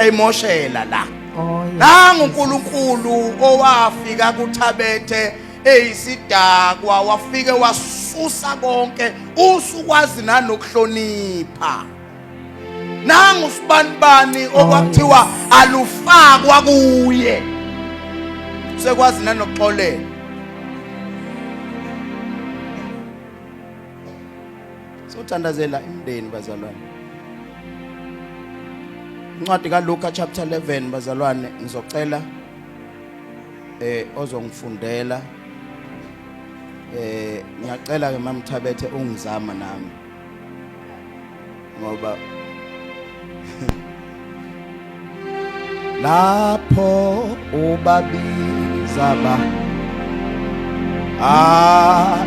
emoshela la oh, nangu uNkulunkulu owafika kuthabethe eyisidakwa wafike wasusa konke usukwazi nanokuhlonipha nangu sibanibani oh, okwakuthiwa alufakwa kuye sekwazi nanokuxolela Sothandazela imndeni bazalwane. Incwadi kaLuka chapter 11 bazalwane ngizocela eh ozongifundela eh ngiyacela ke mamthabethe ungizama nami ngoba lapho ubabiza ba ah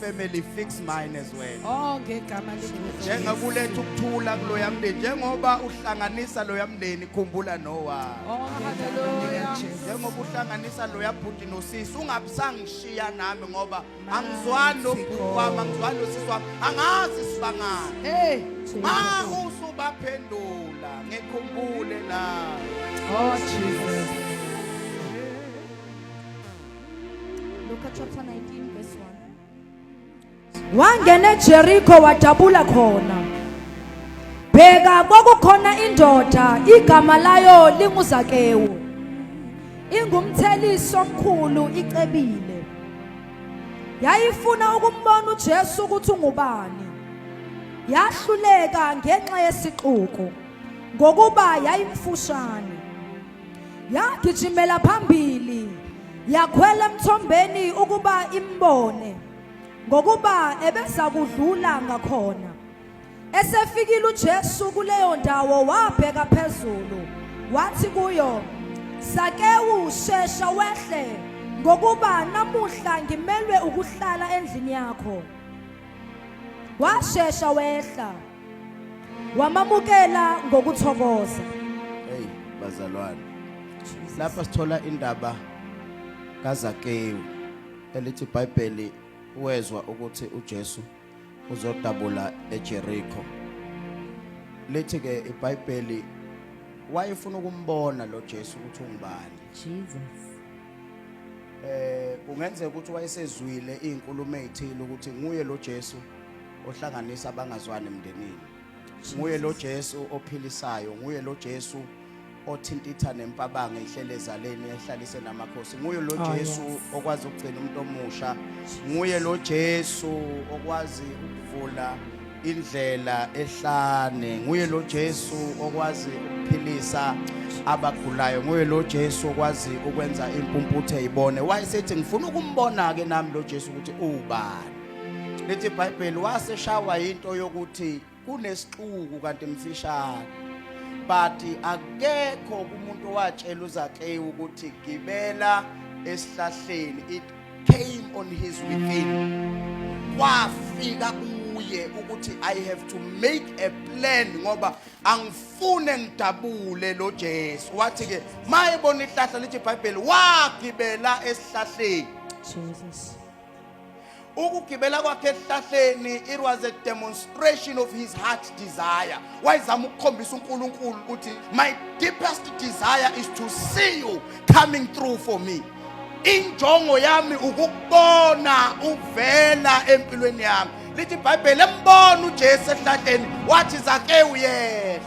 family fix mine as well oh ngegama likaJesu njengakuletha ukuthula kuloya mndeni njengoba uhlanganisa loya mndeni khumbula nowa oh haleluya njengoba uhlanganisa loya bhuti nosisi ungabisangishiya nami ngoba angizwani nobhuti wami angizwani nosisi wami angazi sibangani hey ma usubaphendula ngikhumbule na oh jesus Luka chapter 19 verse 1. Wangena eJeriko wadabula khona. Bheka kwakukhona indoda igama layo linguZakewu. Ingumthelisi omkhulu icebile. Yayifuna ukumbona uJesu ukuthi ungubani. Yahluleka ngenxa yesixuku ngokuba yayimfushane. yagijimela phambili yakhwela emthombeni ukuba imbone ngokuba ebeza kudlula ngakhona esefikile uJesu kuleyo ndawo wabheka phezulu wathi kuyo sakewu shesha wehle ngokuba namuhla ngimelwe ukuhlala endlini yakho washesha wehla wamamukela ngokuthokoza hey bazalwane lapha sithola indaba kaZakewu elithi iBhayibheli wezwa ukuthi uJesu uzodabula eJericho lithi ke iBhayibheli wayefuna ukumbona lo Jesu ukuthi ungubani Jesus eh kungenzeka ukuthi wayesezwile izinkulumo ezithile ukuthi nguye lo Jesu ohlanganisa abangazwani emndenini nguye lo Jesu ophilisayo nguye lo Jesu othintitha nempabanga ihlele ezaleni ehlalise namakhosi nguye lo ah, Jesu okwazi ukugcina umuntu omusha nguye lo Jesu okwazi ukuvula indlela ehlane nguye lo Jesu okwazi ukuphilisa abagulayo nguye lo Jesu okwazi ukwenza impumputhe ibone wayesethi ngifuna ukumbona ke nami lo Jesu ukuthi ubani lithi ibhayibheli waseshawa into yokuthi kunesixuku kanti mfishane but akekho kumuntu watshela uzakeyi ukuthi gibela esihlahleni it came on his within kwafika kuye ukuthi i have to make a plan ngoba angifune ngidabule lo Jesu wathi ke mayebona ihlahla lithi ibhayibheli wagibela esihlahleni Jesus ukugibela kwakhe esihlahleni it was a demonstration of his heart desire wayezama ukukhombisa uNkulunkulu ukuthi my deepest desire is to see you coming through for me injongo yami ukukubona uvela empilweni yami lithi ibhayibheli embona ujesu esihlahleni wathi zakewu yehla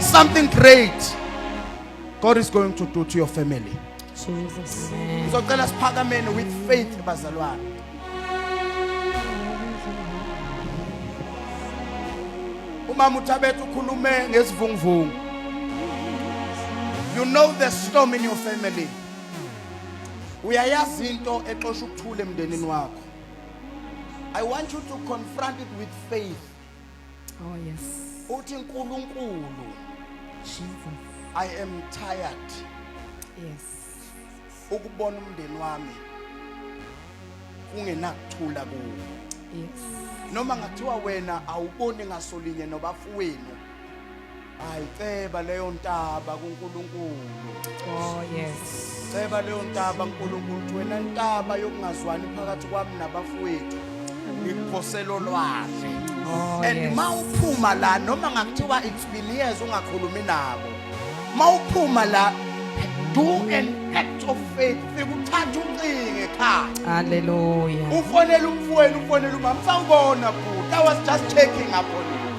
Something great God is going to do to your family. Jesus. Ngizocela siphakameni with faith bazalwane. Umama uThabethu ukhulume ngesivunguvungu. You know the storm in your family. Uyayazi into exosha ukuthula emndenini wakho. I want you to confront it with faith. Oh yes. Uthi uNkulunkulu Jesus. I am tired. Yes. Ukubona umndeni wami kungenakuthula kuwo. Yes. Noma ngathiwa wena awuboni ngasolinye nobafowenu Hayi ceba leyo ntaba kuNkulunkulu. Oh yes. Ceba leyo ntaba uNkulunkulu wena ntaba yokungazwani phakathi kwami nabafowethu. Ngikuphosela olwahle. Oh, And yes. mawuphuma la noma ngakuthiwa it's been years ungakhulumi nabo. Mawuphuma la do an act of faith fikuthatha uncinge ekhaya. Hallelujah. Ufonela umfowenu ufonela umama sawubona bhuti I was just checking up on you.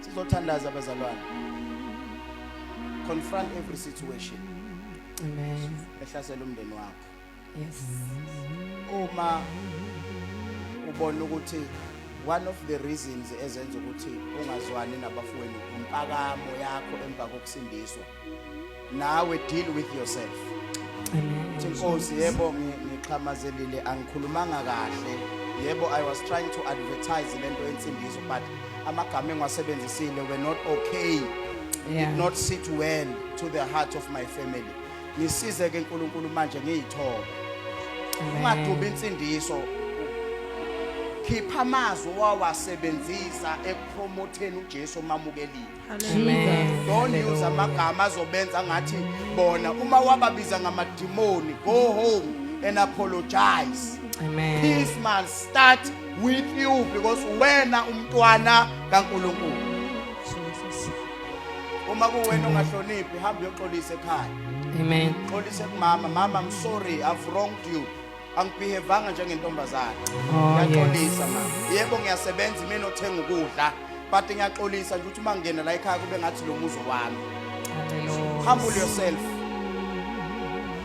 sizothandaza bazalwane confront every situation amen ehlasela umndeni wakho yes uma ubona ukuthi one of the reasons ezenza ukuthi ungazwani nabafowenu impakamo yakho emva kokusindiswa nawe deal with yourself Amen. Nkosi yebo ngixhamazelile angikhulumanga kahle yebo I was trying to advertise lento ensindiso but amagama engiwasebenzisile were not okay yeah. did not sit well to the heart of my family ngisize ke uNkulunkulu manje ngiyithoba ungadubi insindiso khipha amazwi wawasebenzisa ekupromotheni uJesu omamukelile don't use amagama azobenza ngathi bona uma wababiza ngamadimoni go home and apologize Amen. peace man start with you because wena umntwana kaNkuluNkulu uma kuwena ungahloniphi hamba uyoxolisa ekhaya Amen. xolisa kumama mama i'm sorry i've wronged you angibehevanga njengentombazane oh, ngiyaxolisa ma yebo ngiyasebenza imina othenga ukudla but ngiyaxolisa nje ukuthi uma ngingena la ekhaya kube ngathi lo muzo wami humble yourself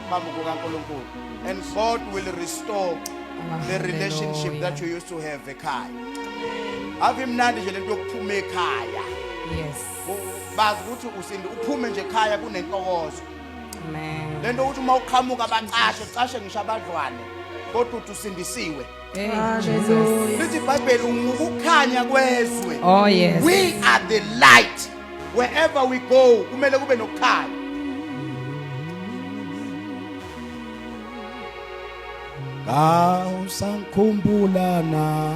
phambi kukankulunkulu and god will restore the relationship that you used to have ekhaya ave imnandi nje lento yokuphuma ekhaya yes bazi ukuthi usindi uphume nje ekhaya kunentokozo lento ukuthi uma uqhamuka bacashe ucashe ngisho abadlwane kodwa uthi usindisiwe lithi ibhayibheli ungukukhanya kwezwe oh yes we are the light wherever we go kumele kube nokukhanya Kawusangikhumbula na